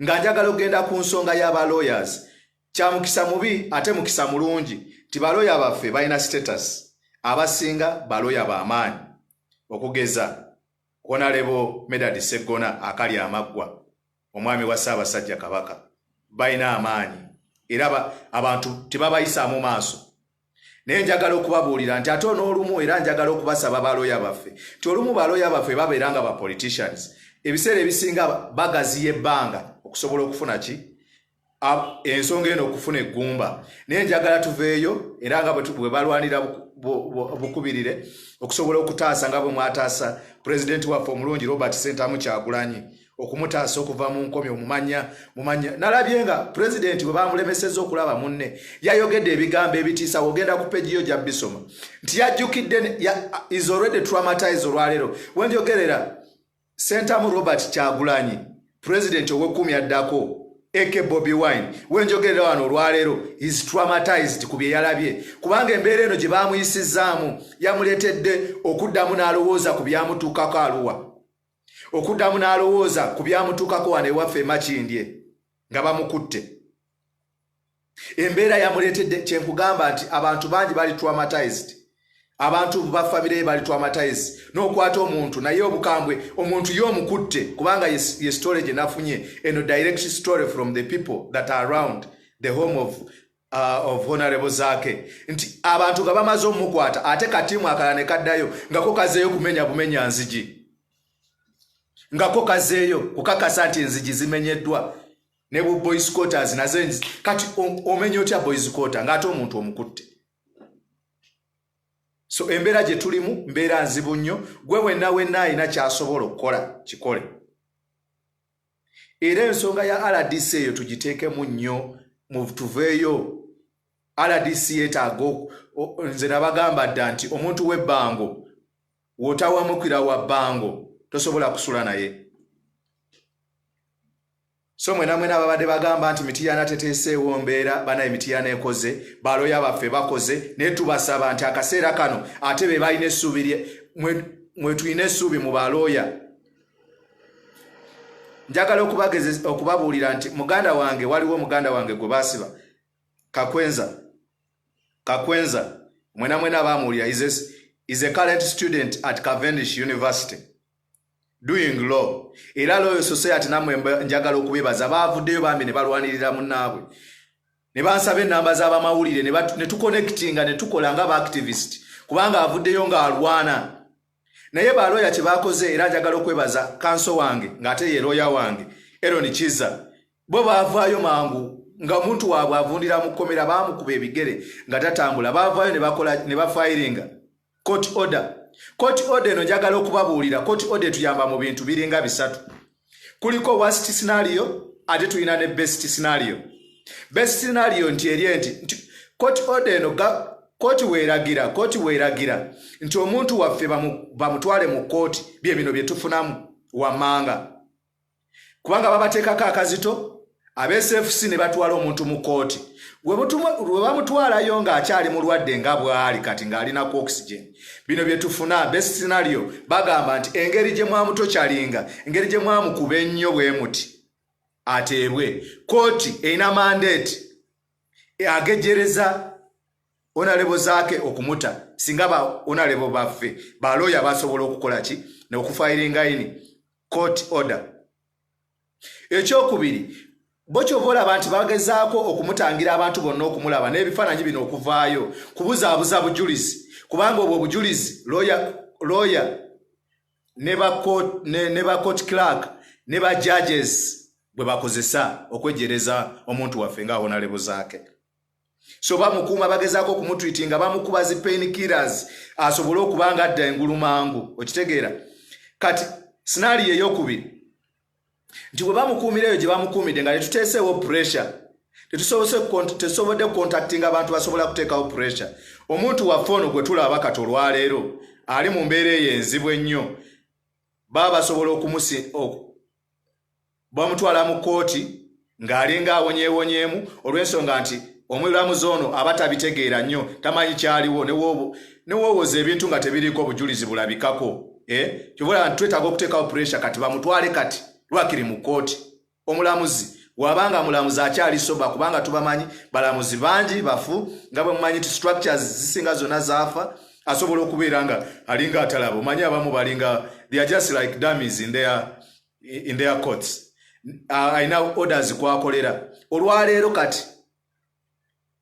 nga njagala okugenda ku nsonga y'aba lawyers kyamukisa mubi ate mukisa mulungi nti baloya baffe balina status abasinga baloya bamaanyi okugeza honalebo medad seggona akali amaggwa Omwami wa Ssaabasajja Kabaka balina amaanyi era abantu tebabayisaamu maaso naye njagala okubabuulira nti ate onoolumu era njagala okubasaba baloya baffe nti olumu baloya baffe babeera nga bapoliticians ebiseera ebisinga bagaziya ebbanga okusobola okufuna ki ensonga eno okufuna eggumba naye njagala tuveeyo era nga bwe balwanira bukubirire okusobola okutaasa nga bwe mwataasa pulezidenti waffe omulungi robert sentamu kyagulanyi okumutaasa okuva mu nkomi omumanya mumanya nalabye nga pulezidenti bwe bamulemeseza okulaba munne yayogedde ebigambo ebitiisa ogenda ku pegiyo gya bisoma nti yajjukidde is already traumatized olwaleero wenjogerera Ssentamu Robert Kyagulanyi, Pulezidenti ow'ekumi addako AK Bobi Wine wenjogerera wano olwaleero is traumatized ku bye yalabye kubanga embeera eno gye baamuyisizzaamu yamuleetedde okuddamu n'alowooza ku byamutuukako aluwa okuddamu n'alowooza ku byamutuukako wano ewaffe emakindye nga bamukutte embeera yamuleetedde kyenkugamba nti abantu bangi bali traumatized abantu ba famire ye bali traumatized n'okwata omuntu naye obukambwe omuntu ye omukutte kubanga ye story gye nafunye eno direct story from the people that are around the home of Uh, of honorable zake nti abantu nga bamaze omukwata ate katiimu akala ne kaddayo ngako kazeeyo kumenya bumenya nzigi ngako kazeeyo kukakasa nti enzigi zimenyeddwa ne bu boys quarters naze kati omenya otya boys quarter ngate omuntu omukutte so embeera gye tulimu mbeera nzibu nnyo gwe wenna wenna alina kyasobola okukola kikole era ensonga ya rdc eyo tugiteekemu nnyo tuveeyo rdc yetaaga nze nabagamba dda nti omuntu w'ebbango wotawamukira wa bbango tosobola kusula naye so mwena mwena babadde bagamba nti mitiyana teteeseewo mbeera banaye mitiyana ekoze baloya baffe bakoze naye tubasaba nti akaseera kano ate be balina essuubi mwetulina essuubi mu balooya njagala okubabuulira nti muganda wange waliwo muganda wange gwe basiba kakwenza kakwenza mwena mwena bamuwulira is a current student at cavenish university doing law era loyo society namwe njagala okubebaza bavuddeyo bambi ne balwanirira munnaabwe ne bansaba ennamba z'abamawulire ne tukonectinga ne tukola nga baactivist kubanga avuddeyo ng'alwana naye balooya kye bakoze era njagala okwebaza kanso wange ng'ate ye looya wange eroni kiza bo baavaayo mangu nga omuntu waabwe avundira mu kkomera baamukuba ebigere nga tatambula baavaayo ne bafayiringa court order court order eno njagala okubabuulira court order etuyamba mu bintu biringa bisatu kuliko worst scenario ate tulina ne best scenario best scenario nti eri enti nti court order eno kooti weeragira kooti weeragira nti omuntu waffe bamutwale mu kooti bye bino bye tufunamu wammanga kubanga babateekako akazito absfc ne batwala omuntu mu kkooti we bamutwalayo ng'akyali mulwadde nga bw'ali kati ng'alina ku oxygen bino bye tufuna best scenario bagamba nti engeri gye mwamutokyalinga engeri gye mwamukuba ennyo bwe muti ateebwe kkooti erina mandeeti agejereza onalebo zaake okumuta singa ba onalebo baffe balooya basobola okukola ki neokufayiringaini court order ekyokubiri bo kyova olaba nti bagezaako okumutangira abantu bonna okumulaba n'ebifaananyi bino okuvaayo kubuzaabuza bujulizi kubanga obwo obujulizi looya ne ba court clark ne ba judges bwe bakozesa okwejereza omuntu waffe nga awonalebo zaake so bamukuuma bagezaako okumutwiti nga bamukuba zi pain killers asobole okuba nga adda engulu mangu okitegeera kati sinaali yeyokubiri nti bwe bamukuumira eyo gye bamukuumidde nga tetuteeseewo pressure tetusobodde kucontactinga abantu basobola kuteekawo pressure omuntu waffe ono gwe tulaba kati olwaleero ali mu mbeera eyo enzibu ennyo baba basobola bamutwala mu kkooti ng'alinga awonyeewonyeemu olw'ensonga nti omulamuzi ono aba tabitegeera nnyo tamanyi kyaliwo newoowoza ebintu nga tebiriiko obujulizi bulabikako eh, kyobola nti twetaaga okuteekawo puresha kati bamutwale kati lwakiri mu kkooti omulamuzi wabanga mulamuzi akyali soba kubanga tubamanyi balamuzi bangi bafu nga bwemumanyi nti structures zisinga zonna zaafa asobola okubeera nga alinga atalaba omanyi abamu balinga they are just like dummies in their, in their courts alina uh, orders kwakolera olwaleero kati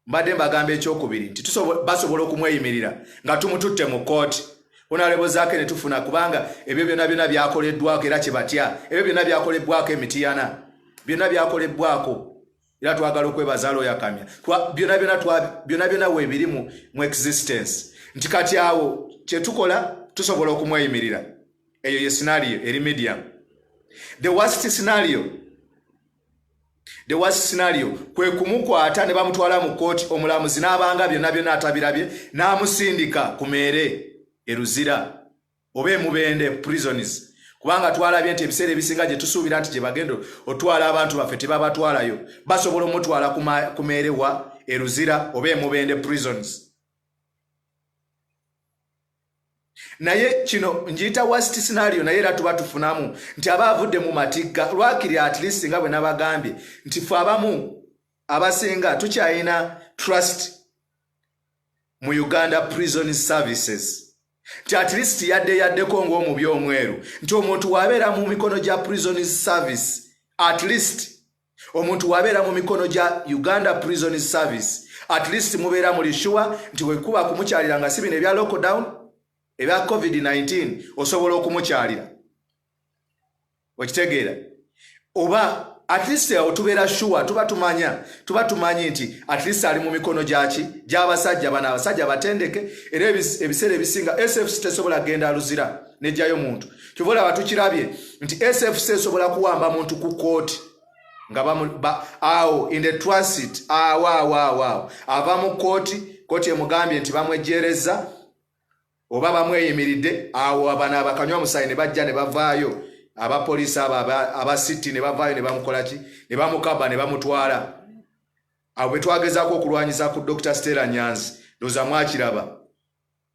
mbadde mbagamba ekyokubiri nti basobola okumweyimirira nga tumututte mu kooti onalebozaako ne tufuna kubanga ebyo byonna byonna byakoleddwako era kye batya ebyo byonna byakolebbwako emitiyana byonna byakolebbwako era twagala okwebaza looya kamya byona byona byona byona weebiri mu existence nti kati awo kyetukola tusobola okumweyimirira eyo ye sinario eri medium the worst scenario the worst scenario kwe kumukwata ne bamutwala mu kkooti omulamuzi n'abanga byonna byonna atabirabye n'amusindika ku meere eruzira oba emubende prisons kubanga twalabye nti ebiseera ebisinga gye tusuubira nti gye bagenda otwala abantu baffe tebabatwalayo basobola omutwala kumeerewa eruzira oba emubende prisons naye kino ngiyita wast scenario naye era tuba tufunamu nti aba avudde mu matigga lwakiri at least nga bwe nabagambye nti fe abamu abasinga tukyalina trust mu uganda prison services nti at least yadde yaddeko ng'omubi omweru nti omuntu wabeera mu mikono gya prison service at least omuntu wabeera mu mikono gya uganda prison service at least mubeera muli shuwa nti wekuba kumukyalira nga si bino ebya lockdown ebya covid-19 osobola okumukyalira okitegeera oba at least awo tubeera sure tuba tumanya tuba tumanyi nti at least ali mu mikono gyaki gy'abasajja bano abasajja batendeke era ebiseera ebisinga sfc tesobola genda luzira nejjayo muntu kyova olaba tukirabye nti sfc esobola kuwamba muntu ku kooti nga awo in the transit awawawawo ava mu kooti kooti emugambye nti bamwejjeerezza oba bamweyimiridde awo abano abakanywa musaayi ne bajja ne bavaayo abapoliisi abo aba city ne bavaayo ne bamukolaki ne bamukaba ne bamutwala abo be twagezaako okulwanyisa ku dr stella nyanzi ndoza mwakiraba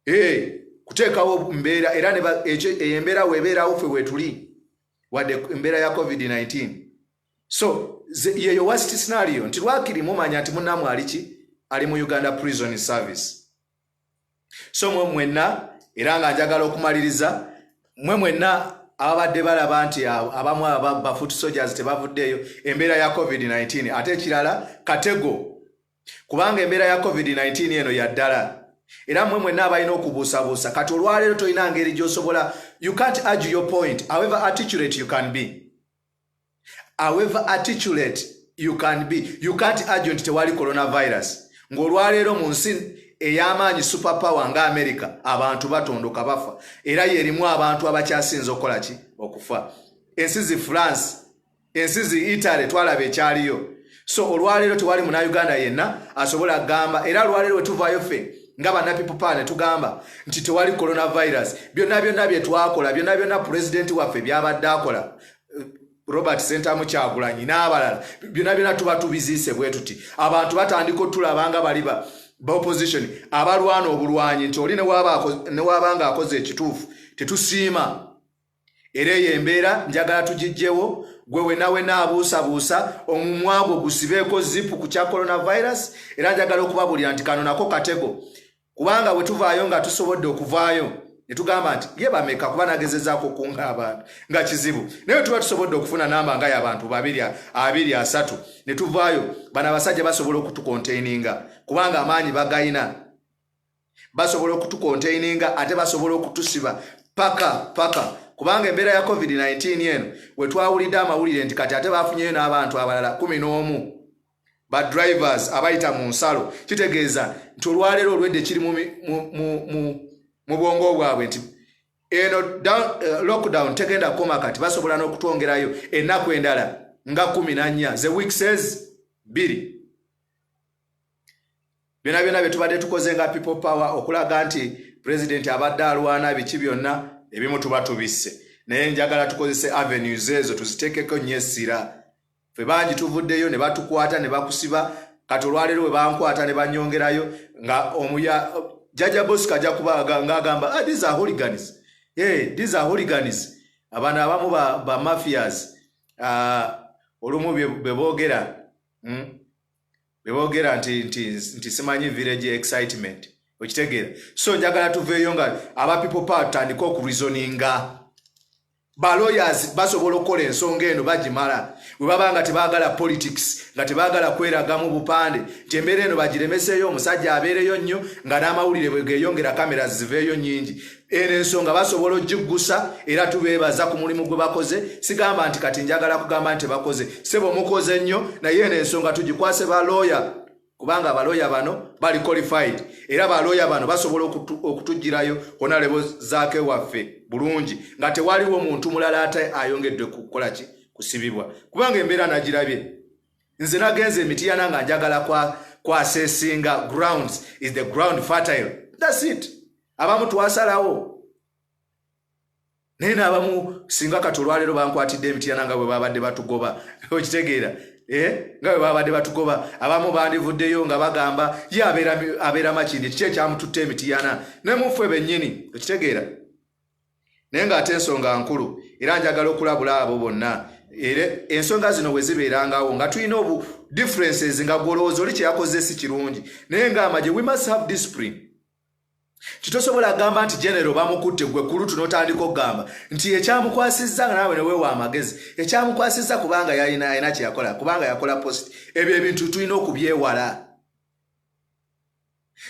ee kuteekawo mbeera era eyo embeera weebeerawo fe weetuli wadde embeera ya covid-19 so yeyo wast scenario nti lwakiri mumanya nti munamwe aliki ali mu uganda prison service so mwe mwenna era nga njagala okumaliriza mwe mwenna ababadde balaba nti abamu bafoot soldiers tebavuddeeyo embeera ya covid-19 ate ekirala katego kubanga embeera ya covid-19 eno yaddala era mwe mwenna abalina okubuusabuusa kati olwaleero tolina ngeri gyosobola you can't argue your point however articulate you can be however articulate you can be you can't argue nti tewali coronavirus ng'olwaleero mu nsi ey'amaanyi super power nga america abantu batondoka bafa era yerimu abantu abakyasinza okukola ki okufa ensi zi france ensi zi italy twalaba ekyaliyo so olwaleero tewali muna uganda yenna asobola agamba era olwaleero wetuvayo ffe nga bana people power netugamba nti tewali coronavirus byonna byonna byetwakola byonna byonna pulezidenti waffe byabadde akola eh, robert sentamu kyagulanyi n'abalala byonna byonna tuba tubiziise bwe tuti abantu batandika otulabanga baliba baopposition abalwana obulwanyi nti oli newabanga akoze ekituufu tetusiima era eyo embeera njagala tugijjewo gwe wenawena abuusabuusa omumwa gwo gusibeeko zipu ku kya coronavirus era njagala okubabuulira nti kano nako katego kubanga bwe tuvaayo nga tusobodde okuvaayo ne tugamba nti ye bameka kuba nagezezaako okunga abantu nga kizibu naye tuba tusobodde okufuna namba nga yabantu babiri abiri asatu ne tuvaayo bano abasajja basobola okutukonteininga kubanga amaanyi bagayina basobola okutukontaininga ate basobola okutusiba paka paka kubanga embeera ya covid-19 eno wetwawulidde amawulire nti kati ate bafunyeyo n'abantu abalala kumi n'omu ba drivers abayita mu nsalo kitegeeza nti olwaleero olwedde kiri mu bwongo bwabwe nti eno eh, lockdown tegenda kukoma kati basobola n'okutwongerayo ennaku endala nga kumi nannya the week says biri byona byona byetubadde tukoze nga people power okulaga nti president abadde alwana biki byonna ebimu tuba tubisse naye njagala tukozese avenues ezo tuzitekeko nyo essira fe bangi tuvuddeyo ne batukwata ne bakusiba kati olwaleero bwe bankwata ne banyongerayo nga omuya jaja bosco ajja kuba ngaagamba ah, these are hooligans hey, eh, these are hooligans abantu abamu ba, ba mafias uh, olumu beboogera hmm? bebogera nti nti nti simanyi village excitement okitegeera so njagala tuveeyo nga aba people power tutandike okureasoninga ba lawyers basobola okukola ensonga eno bagimala bwe baba nga tebaagala politics nga tebaagala kweragamu bupande nti embeera eno bagiremeseeyo omusajja abeereyo nnyo nga n'amawulire bwe geeyongera kamera ziveeyo nnyingi eno ensonga basobola ogiggusa era tubeebaza ku mulimu gwe bakoze sigamba nti kati njagala kugamba nti bakoze sebo mukoze nnyo naye eno ensonga tugikwase balooya kubanga abalooya bano bali qualified era balooya bano basobola okutugirayo kona lebo zaake waffe bulungi nga tewaliwo muntu mulala ate ayongedde kukolaki kusibibwa kubanga embeera nagirabye nze nagenze emitiyana nga njagala kwa kwasesinga grounds is the ground fertile thats it abamu twasalawo naye naabamu singa kati olwaleero bankwatidde emitiyana nga bwe babadde batugoba okitegeera eh? nga bwe babadde batugoba abamu bandivuddeyo nga bagamba ye abeera makindi kiki ekyamututta emitiyana ne muffe bennyini okitegeera naye ng'ate ensonga nkulu era njagala okulabula abo bonna era ensonga zino bwe zibeerangawo nga tulina obu differences nga gwolowooza oli kyeyakoze si kirungi naye ng'amagye we must have discipline kitosobola agamba nti genero bamukutte gwe kulutu n'otandika okugamba nti ekyamukwasizza nga naawe neweewa amagezi ekyamukwasizza kubanga yalina alina kyeyakola kubanga yakola post ebyo ebintu tulina okubyewala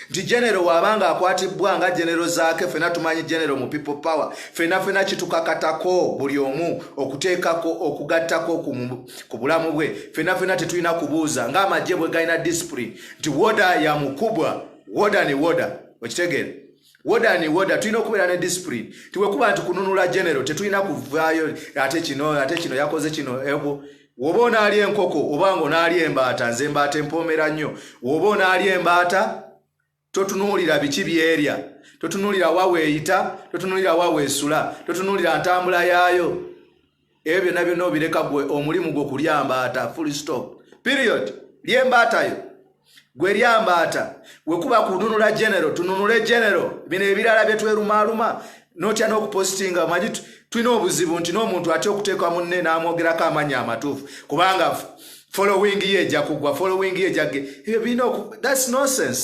nti genero waaba nga akwatibbwa nga genero zaake fena tumanyi genero mu people power fena fena kitukakatako buli omu okuteekako okugattako ku bulamu bwe fena fena tetulina kubuuza nga amagye bwe galina discipline nti woda yamukubwa woda ne woda okitegeere woda ni woda tulina okubeera ne discipline tiwekuba nti kununula genero tetulina kuvaayo ate kino ate kino yakoze kino ebo woba onaali enkoko oba nga onaali embaata nze embaata empoomera nnyo woba onaali embaata totunuulira biki byerya totunuulira wa weeyita totunuulira wa weesula totunuulira ntambula yaayo ebyo byonna byonna obireka gwe omulimu gwo kulya mbaata full stop period lye mbaatayo gwe lya mbaata wekuba kununula genero tununule genero bino ebirala byetwerumaaluma notya n'okupositinga omanyi tulina obuzibu nti n'omuntu atya okuteeka munne n'amwogerako amanya amatuufu kubanga following ye eja kugwa following ye ejage ebyo birina oku thats nonsense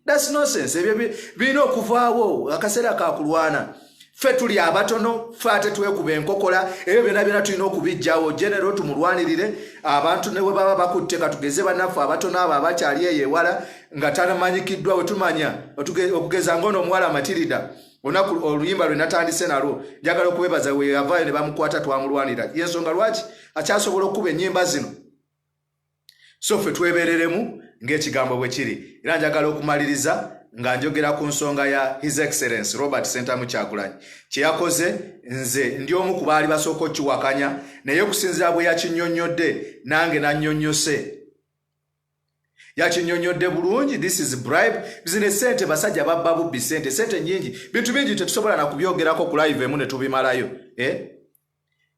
That's nonsense. Ebyo birina okuvaawo akaseera ka kulwana. Ffe tuli abatono, ffe ate twekuba enkokola, ebyo byonna byonna tulina okubijjawo. Genero tumulwanirire abantu ne bwe baba bakutte katugeze bannaffe abatono abo abakyali eyo ewala nga tanamanyikiddwa we tumanya okugeza ng'ono omuwala Matirida olunaku oluyimba lwe natandise nalwo njagala okubebaza we yavaayo ne bamukwata twamulwanira y'ensonga lwaki akyasobola okukuba ennyimba zino so ffe twebereremu ng'ekigambo bwe kiri era njagala okumaliriza nga njogera ku nsonga ya his excellence robert sentamu kyagulanyi kye yakoze nze ndi omu ku baali basooka okiwakanya naye okusinzira bwe yakinyonnyodde nange nannyonnyose yakinyonyodde bulungi this is bribe zino esente basajja babba bubbi sente sente nyingi bintu bingi tetusobola nakubyogerako ku live emu netubimalayo eh?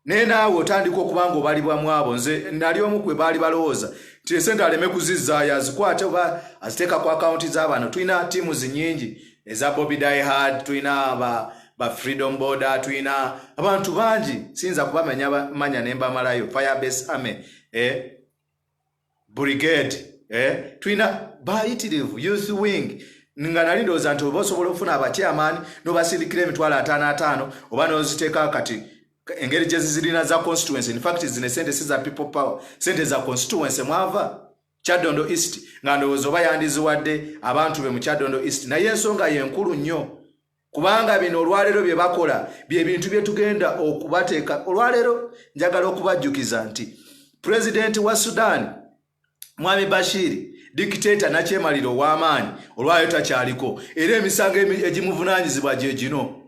naye naawe otandika okuba nga obalibwa mu abo nze nali omu kwe baali balowooza nti esente aleme kuzizzaayo azikwate oba aziteeka ku akawunti z'abantu tulina tiimu zinyingi eza bobi diehard tulina ba, ba freedom border tulina abantu bangi siyinza kubamanya manya ne mbamalayo firebase army eh? brigade eh? tulina bayitirivu youth wing nga nali ndowooza nti oba osobola okufuna abakyamaani nobasindikira emitwalo ataano ataano oba noziteeka kati engeri gyezizirina za constituency infact zino esente si za people power sente za constituency mwava kyadondo east nga ndowooza oba yandiziwadde abantu be mu kyadondo east naye ensonga yenkulu nnyo kubanga bino olwaleero bye bakola bye bintu bye tugenda okubateeka olwaleero njagala okubajjukiza nti pulezidenti wa sudaani mwami bashiri dikiteeta nakyemalira ow'amaanyi olwaleero takyaliko era emisango egimuvunaanyizibwa gye gino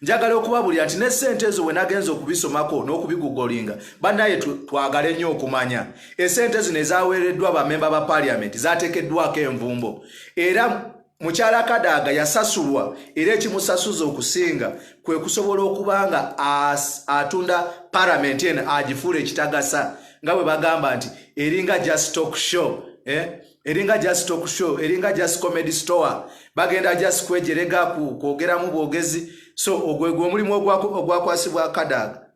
njagala okubabulira nti ne ssente ezo wenagenza okubisomako n'okubigugolinga bannaye twagale nnyo okumanya esente zino ezaweereddwa bamemba ba paliamenti zateekeddwako envumbo era Mukyala Kadaga yasasulwa era ekimusasuza okusinga kwe kusobola okuba nga atunda paramenti eno agifuula ekitagasa nga bwe bagamba nti eringa just talk show eh? eringa just talk show eringa just comedy store bagenda just kwejerega ku kwogeramu bwogezi so ogwegwe omulimu ogwakwasibwa Kadaga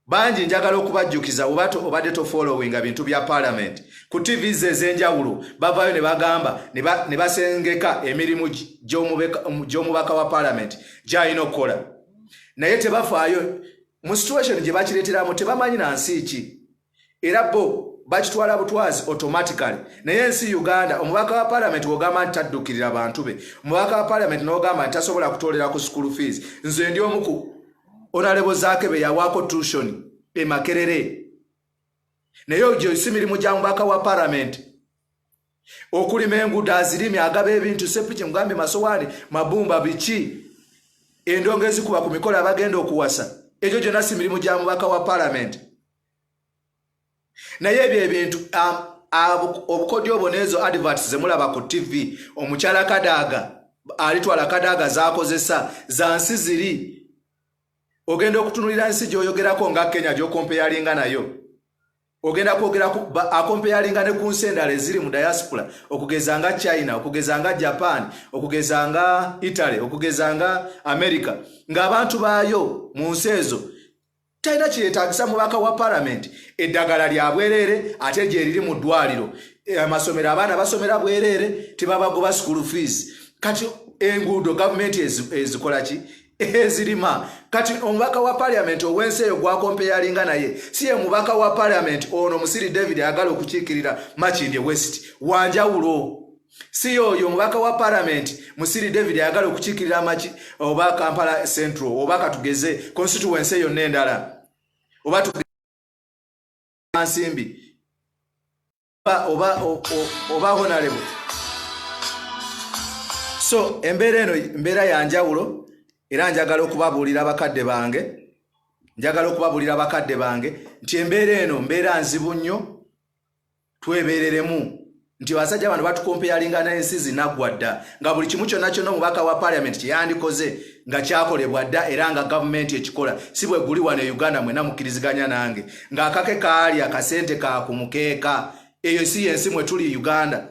bangi njagala okubajjukiza oba obadde tofollowinga bintu bya palamenti ku tv ze ez'enjawulo bavaayo ne bagamba ne basengeka emirimu gy'omubaka wa palamenti gy'alina okukola naye tebafaayo mu situation gye bakireeteramu tebamanyi na nsi ki era bo bakitwala butwazi automatically naye ensi uganda omubaka wa palamenti wogamba nti taddukirira bantu be omubaka wa palamenti nogamba nti tasobola kutolera ku school fees nze ndi omuku onalebo zake beyawaako tushoni emakerere naye ogyo si mirimu gya mubaka wa palamenti okulima enguudo azirimi agaba ebintu sepiki mugambye masowaani mabumba biki endongo ezikuba ku mikolo abagenda okuwasa egyo gyonna si mirimu gya mubaka wa palamenti naye ebyo ebintu um, obukodyo obwo neezo adverts zemulaba ku tv omukyala kadaaga alitwala kadaaga zakozesa za nsi ziri ogenda okutunulira nsi gyoyogerako nga kenya gyokompeyalinga nayo ogenda kwogera akompeyalinga ne ku nsi endala eziri mu diaspora okugeza nga china okugeza nga japan okugeza nga italy okugeza nga america ng'abantu baayo mu nsi ezo talina kyeyetagisa mubaka wa palamenti eddagala lya bwereere ate gyeriri mu ddwaliro eh, amasomero abaana basomera bwereere tebabagoba school fees kati enguudo gavumenti ezikolaki ezirima kati omubaka wa parliament owensi eyo gwakompeyalinga naye si ye mubaka wa parliament ono musiri david agala okukiikirira makindye west wanjawulo si yoyo omubaka wa parliament musiri david ayagala okukiikirira maki oba kampala central oba katugeze constituency eyo nendala oba nsimbi oba oba honalebo so embeera eno mbeera ya njawulo era njagala okubabuulira abakadde bange njagala okubabuulira abakadde bange nti embeera eno mbeera nzibu nnyo twebeereremu nti abasajja bano batukompeyalinga n'ensi zinaggwa dda nga buli kimu kyonna kyonna omubaka wa paliamenti kyeyandikoze nga kyakolebwa dda era nga gavumenti ekikola si bwe guli wano e uganda mwena mukkiriziganya nange ng'akake kaali akasente ka ku mukeeka eyo si yensi mwe tuli uganda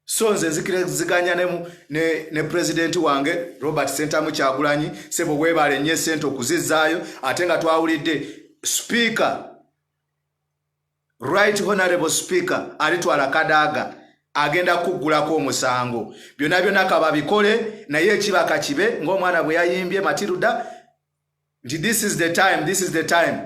so nze nzikiriziganya ne, ne, ne pulezidenti wange robert sentamu kyagulanyi sebo weebale nnyo esente okuzizzaayo ate nga twawulidde sipiika right honorable speaker alitwala kadaaga agenda kuggulako omusango byonna byonna kababikole naye ekiba kakibe ng'omwana bwe yayimbye matiruda nti this is the time this is the time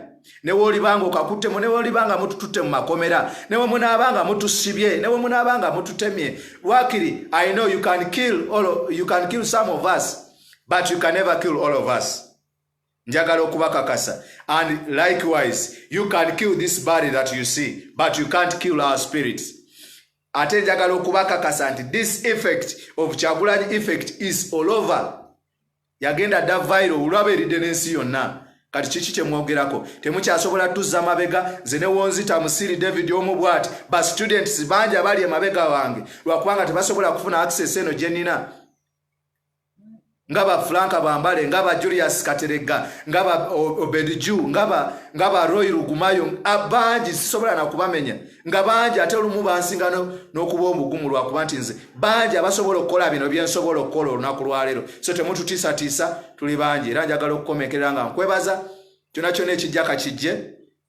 neweolibanga okakuttemu neweolibanga mutututte mu makomera newe munaabanga mutusibye newe munaabanga mututemye wakiri i know you can kill, all, you can kill some of us but you can never kill all of us njagala okubakakasa and likewise you can kill this body that you see but you can't kill our spirits ate njagala okubakakasa nti this effect of kyagulanyi effect is all over yagenda dda viro olwaba eridde n'ensi yonna kati kiki kyemwogerako temukyasobola tuzza mabega nze newonzita musiri david omu bwati ba students bangi abali emabega wange lwakubanga tebasobola kufuna access eno gyenina nga ba Frank Bambale nga ba Julius Katerega nga ba Obed Ju nga ba nga ba Roy Rugumayo abangi sisobola na kubamenya nga bangi ate olumu bansinga n'okuba omugumu lwa kuba nti nze bangi abasobola okukola bino bye nsobola okukola olunaku lwa leero so temututiisatiisa tuli bangi era njagala okukomekerera nga nkwebaza kyona kyona ekijja kakijje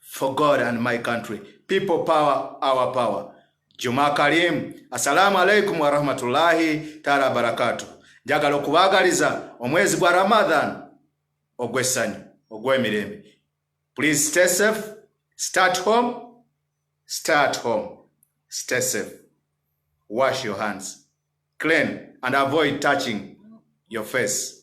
for God and my country. People power, our power. Juma Karim, assalamu alaikum warahmatullahi taala barakatu. Njagala okubaagaliza omwezi gwa Ramadan ogw'essanyu ogw'emirembe. Please stay safe, start home, start home, stay safe. Wash your hands, clean and avoid touching your face.